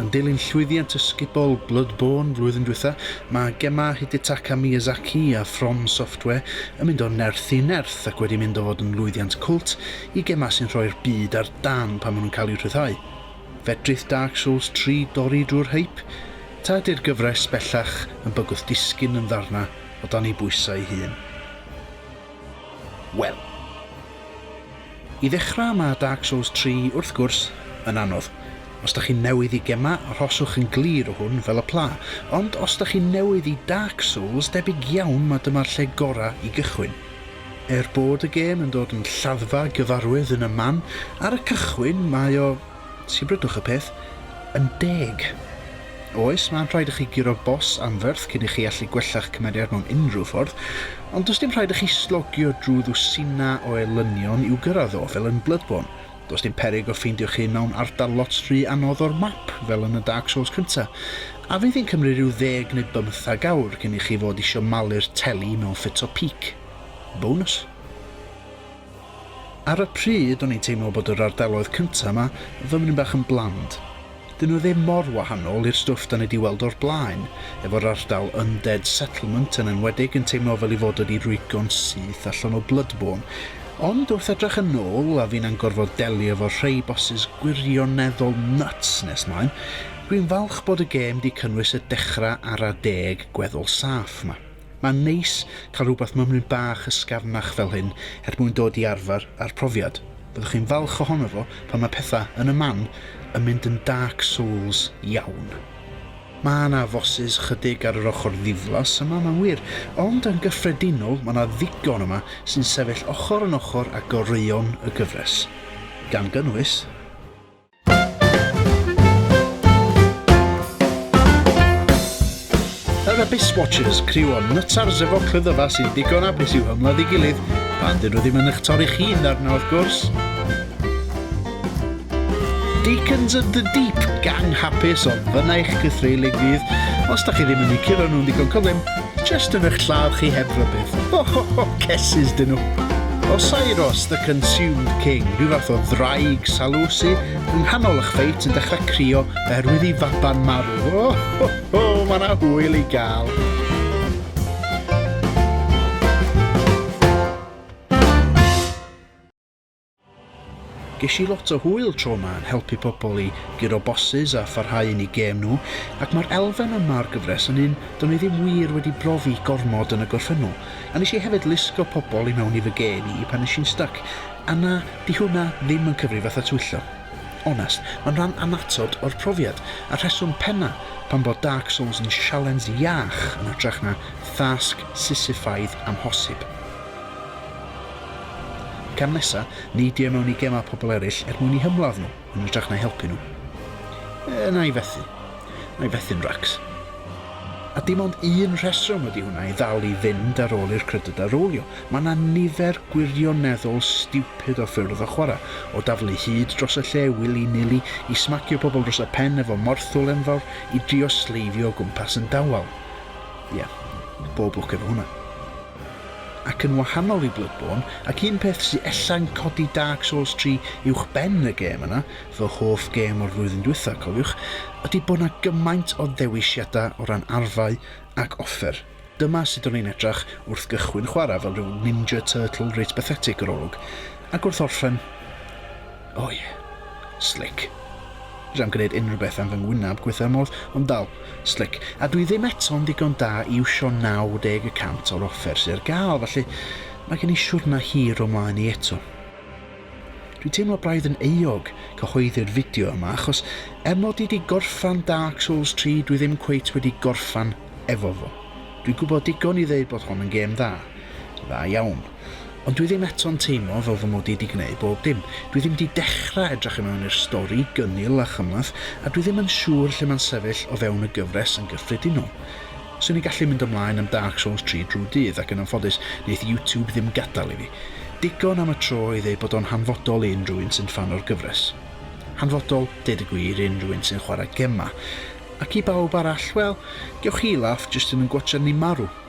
Yn dilyn llwyddiant ysgubol Bloodborne flwyddyn dwytha, mae gemau Hidetaka Miyazaki a From Software yn mynd o nerth i nerth ac wedi mynd o fod yn lwyddiant cwlt i gemau sy'n rhoi'r byd ar dân pan maen nhw'n cael eu rhyddhau. Fedrith Dark Souls tri dorri drwy'r hype? Ta ydy'r gyfres bellach yn bygwth disgyn yn ddarnau o dan ei bwysau ei hun? Wel. I ddechrau mae Dark Souls 3 wrth gwrs yn anodd. Os dach chi'n newydd i gemau arhoswch yn glir o hwn fel y pla, ond os dach chi'n newydd i Dark Souls debyg iawn mae dyma'r lle gorau i gychwyn. Er bod y gêm yn dod yn lladdfa gyfarwydd yn y man, ar y cychwyn mae o Sibrydwch y peth yn deg. Oes, mae'n rhaid i chi guro bos anferth cyn i chi allu gwella'ch cymeriad mewn unrhyw ffordd, ond does dim rhaid i chi slogio drwy ddwsinau o elynion i'w gyrraedd o, fel yn Bloodborne. Does dim peryg o ffeindio'ch hun mewn ardal lot rhy anodd o'r map, fel yn y Dark Souls cynta', a fydd hi'n cymryd rhyw ddeg neu bymthag awr cyn i chi fod isio malu'r teli mewn ffit o pîc. Bonws. Ar y pryd o'n i'n teimlo bod yr ardaloedd cynta 'ma fymryn bach yn bland. 'Dyn nhw ddim mor wahanol i'r stwff 'da ni 'di weld o'r blaen, efo'r ardal Undead Settlement yn enwedig yn teimlo fel 'i fod wedi rwygo'n syth allan o Bloodborne. Ond wrth edrach yn ôl, a finna'n gorfod delio efo rhei bosses gwirioneddol nuts nes mlaen, dwi'n falch bod y gêm 'di cynnwys y dechra ara deg gweddol saff 'ma. Mae'n neis cael rhywbeth mymryn bach ysgafnach fel hyn er mwyn dod i arfer â'r profiad. Byddwch chi'n falch ohono fo pan mae pethau yn y man yn mynd yn Dark Souls iawn. Mae 'na fosses 'chydig ar yr ochr ddiflas yma, mae'n wir, ond yn gyffredinol mae 'na ddigon yma sy'n sefyll ochr yn ochr â goreuon y gyfres, gan gynnwys, Yr Abyss Watchers, criw o nytars efo clyddyfa sy'n ddigon abus i'w hymladd i gilydd, pan dyn nhw ddim yn eich torri chi'n ddarna wrth gwrs. Deacons of the Deep, gang hapus o fyna eich cythreilig fydd, os da chi ddim yn eu curo nhw'n ddigon cyflym, Jyst yn eich lladd chi heb rybudd. Ho ho ho, cesus dyn nhw. O Sairos, the consumed king, rhyw fath o ddraig salusi, yng nghanol ych ffeit yn dechrau crio oherwydd i faban marw. O ho ho, mae yna hwyl i gael. Gesh i lot o hwyl tro 'ma yn helpu pobl i guro bosses a pharhau yn 'u gêm nhw, ac ma'r elfen yma o'r gyfres yn un do'n i ddim wir wedi brofi gormod yn y gorffennol, a nesh i hefyd lusgo pobl i mewn i fy gêm i pan nesh i'n styc, a na, 'di hwnna ddim yn cyfri fatha twyllo. Onest, ma'n rhan annatod o'r profiad, a'r rheswm penna pam bod Dark Souls yn sialens iach yn hytrach na thasg Sisifaidd amhosib. Cam nesa, neidio i mewn i gemau pobl eraill er mwyn eu hymladd nhw, yn hytrach na'i helpu nhw. E, na i fethu. Na i fethu'n racs. A dim ond un rheswm ydy hwnna i ddal i fynd ar ôl i'r credydau rowlio. Mae yna nifer gwirioneddol stiwpid o ffyrdd o chwarae, o daflu hyd dros y lle wili-nili, i smacio pobl dros y pen efo morthwl enfawr, i drio sleifio o gwmpas yn dawel. Ie, bob lwc efo hwnna. Ac yn wahanol i Bloodborne, ac un peth sy ella'n codi Dark Souls tri uwch ben y gêm yna, fy hoff gêm o'r flwyddyn dwytha, cofiwch, ydi bod 'na gymaint o ddewisiada o ran arfau ac offer. Dyma sut o'n i'n edrach wrth gychwyn chwara' fel rhyw Ninja Turtle reit bathetic yr olwg, ac wrth orffen, O ie. Slick. Fedrai'm gwneud unrhywbeth am fy ngwynab gwitha modd, ond dal, slick. A dwi ddim eto'n ddigon da i iwsio 90 y cant o'r offer sydd ar gael, felly mae gen i siwrna hir o mlaen i eto. Dwi'n teimlo braidd yn euog cyhoeddi'r fideo yma achos er mod i 'di gorffan Dark Souls 3 dwi ddim cweit wedi gorffan efo fo. Dwi'n gwybod digon i ddeud bod hon yn gêm dda. Dda iawn. Ond dwi ddim eto'n teimlo fel fy mod i 'di gneud bob dim. Dwi ddim 'di dechra edrych i mewn i'r stori gynnil a chymhleth, a dwi ddim yn siŵr lle mae'n sefyll o fewn y gyfres yn gyffredinol. Swn i'n gallu mynd ymlaen am Dark Souls tri drwy'r dydd, ac yn anffodus, neith YouTube ddim gadal i fi. Digon am y tro i ddeud bod o'n hanfodol i unrhyw un sy'n ffan o'r gyfres. Hanfodol, deud y gwir, i unrhyw un sy'n chwarae gemau. Ac i bawb arall, wel, gewch chi laff jyst yn yn gwatsiad ni marw.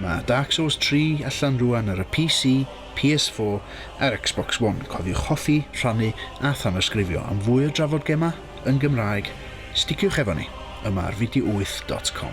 Mae Dark Souls 3 allan rwan ar y PC, PS4 a'r Xbox One, cofiwch hoffi, rhannu a thanysgrifio am fwy o drafod gemau yn Gymraeg, sticiwch efo ni yma ar Video8 dot com.